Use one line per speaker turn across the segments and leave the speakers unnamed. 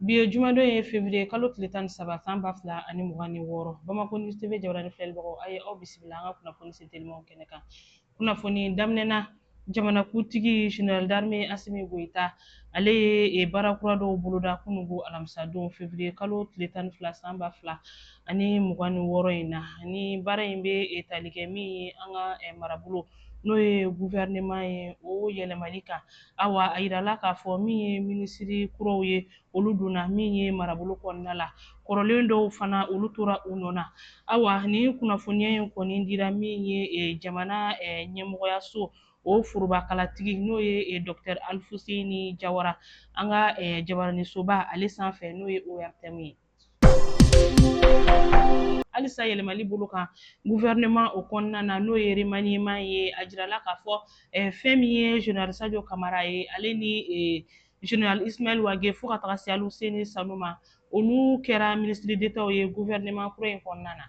Bi ye jumadon ye fevrier kalo tile tan ni saba san ba fila ani mugan ni wɔɔrɔ Bamako News TV jabarani filɛlibagaw a ye aw bisimila an ka kunnafoni se telimanw kɛnɛ kan kunnafoni daminɛna jamanakuntigi general d'armée Asimi Goyita ale ye baara kura dɔw boloda kunungo alamisadon fevrier kalo tile tan ni fila san ba fila ani mugan ni wɔɔrɔ in na ni baara in bɛ tali kɛ min ye an ka marabolo n'o ye gouvernement ye o yɛlɛmali kan Awa a yirala k'a fɔ min ye minisiri kuraw ye olu donna min ye marabolo kɔnɔna la kɔrɔlen dɔw fana olu tora u nɔ na awa nin kunnafoniya in kɔni dira min ye eh, jamana eh, ɲɛmɔgɔyaso o forobakalatigi n'o ye eh, dr alifuseni jawara an ka jabaranisoba ale sanfɛ n'o ye ortm ye halisa yɛlɛmali bolo kan gouvernement o kɔnɔna na n'o ye remaniement ye a jirala k'a fɔ eh, fɛn min ye general sadio kamara ye ale ni eh, general ismail wage fo ka taga se aluseni sanu ma olu kɛra ministre d'etat ye gouvernement kura in kɔnɔna na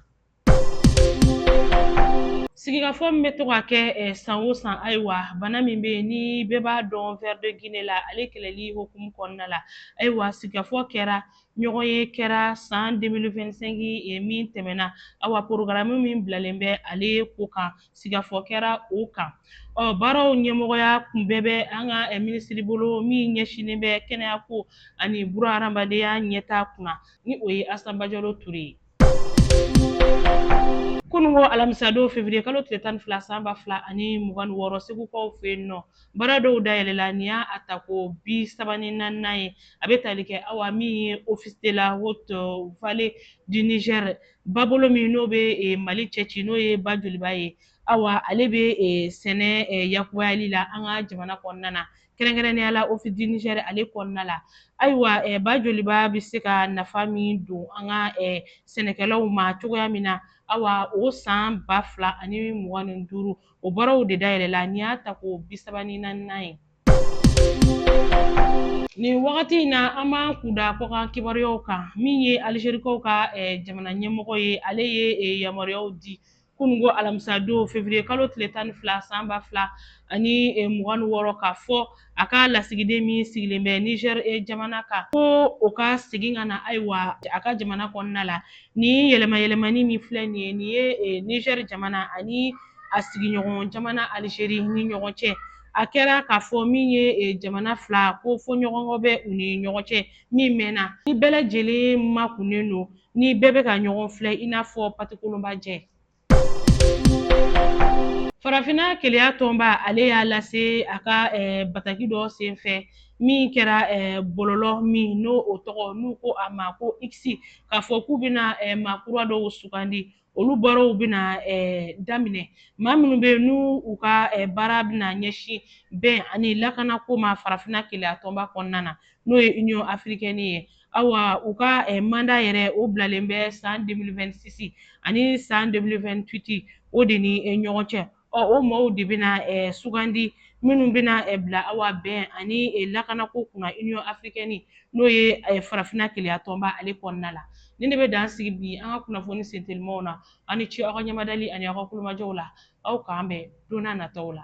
Sigikafɔ min bɛ to ka kɛ san o san ayiwa bana min bɛ yen ni bɛɛ b'a dɔn ver de guinée la ale kɛlɛli hukumu kɔnɔna la ayiwa sigikafɔ kɛra ɲɔgɔn ye kɛra san deux mille vingt-cinq min tɛmɛna awa porogaramu min bilalen bɛ ale ko kan sigikafɔ kɛra o kan ɔ baaraw ɲɛmɔgɔya kun bɛɛ bɛ an ka minisiribolo min ɲɛsinnen bɛ kɛnɛya ko ani buru hadamadenya ɲɛtaa kunna ni o ye asa bajalo ture ye kunungo alamisadon fevrier kalo tile tan ni fila san ba fila ani mugan ni wɔɔrɔ segukaw fɛ yen nɔ baara dɔw dayɛlɛla nin y'a tako bi saba ni naaninan ye a bɛ tali kɛ awa min ye office de la haute vallée du niger babolo min n'o bɛ eh, mali cɛci n'o ye ba joliba ye awa ale bɛ eh, sɛnɛ eh, yakubayali la an ka jamana kɔnɔna na kɛrɛnkɛrɛnnenya la office du niger ale kɔnɔna la ayiwa eh, ba joliba bɛ se ka nafa min don an ka eh, sɛnɛkɛlaw ma cogoya min na awa o san ba fila ani mugan ni duuru o baaraw de dayɛlɛla nin y'a tako bi saba ni naaninan ye nin wagati in na an b'an kun da kɔkan kibaruyaw kan min ye alizerikaw ka eh, jamana ɲɛmɔgɔ ye ale ye eh, yamaruyaw di kunungo alamisadon fevrier kalo tile tan ni fila san ba fila ani eh, mugan ni wɔɔrɔ k'a fɔ a ka lasigiden min sigilen bɛ nizɛr eh, jamana kan ko o ka segin ka na ayiwa a ka jamana kɔnɔna la nin yɛlɛmayɛlɛmani min filɛ nin ye nin ye eh, nizɛr jamana ani a sigiɲɔgɔn jamana alizeri ni ɲɔgɔn cɛ a kɛra k'a fɔ min ye e, jamana fila ko fɔɲɔgɔnkɔ bɛ u ni ɲɔgɔn cɛ min mɛnna ni bɛɛ lajɛlen makunnen don ni bɛɛ bɛ ka ɲɔgɔn filɛ i n'a fɔ patikolonba jɛ farafinna keleya tɔnba ale y'a lase a ka eh, bataki dɔ senfɛ min kɛra eh, bɔlɔlɔ min n'o o tɔgɔ n'u ko a ma ko iksi k'a fɔ k'u bɛna eh, maa kura dɔw sugandi olu baaraw bɛna daminɛ maa minnu bɛ yen n'u u ka baara bɛna ɲɛsin bɛn ani lakanako ma farafinna keleya tɔnba kɔnɔna na n'o ye union africaine ye awa u ka manda yɛrɛ o bilalen bɛ san 2026 ani san 2028 o de ni ɲɔgɔn cɛ Ɔ o maaw de bɛna eh, sugandi minnu bɛna eh, bila awa bɛn ani eh, lakanako kunna union africaine n'o ye eh, farafinna keleya tɔnba ale kɔnɔna la nin de bɛ dan sigi bi an ka kunnafoni sentelimanw na aw ni ce aw ka ɲɛmadali ani aw ka kulomajɔw la aw k'an bɛn don na nataw la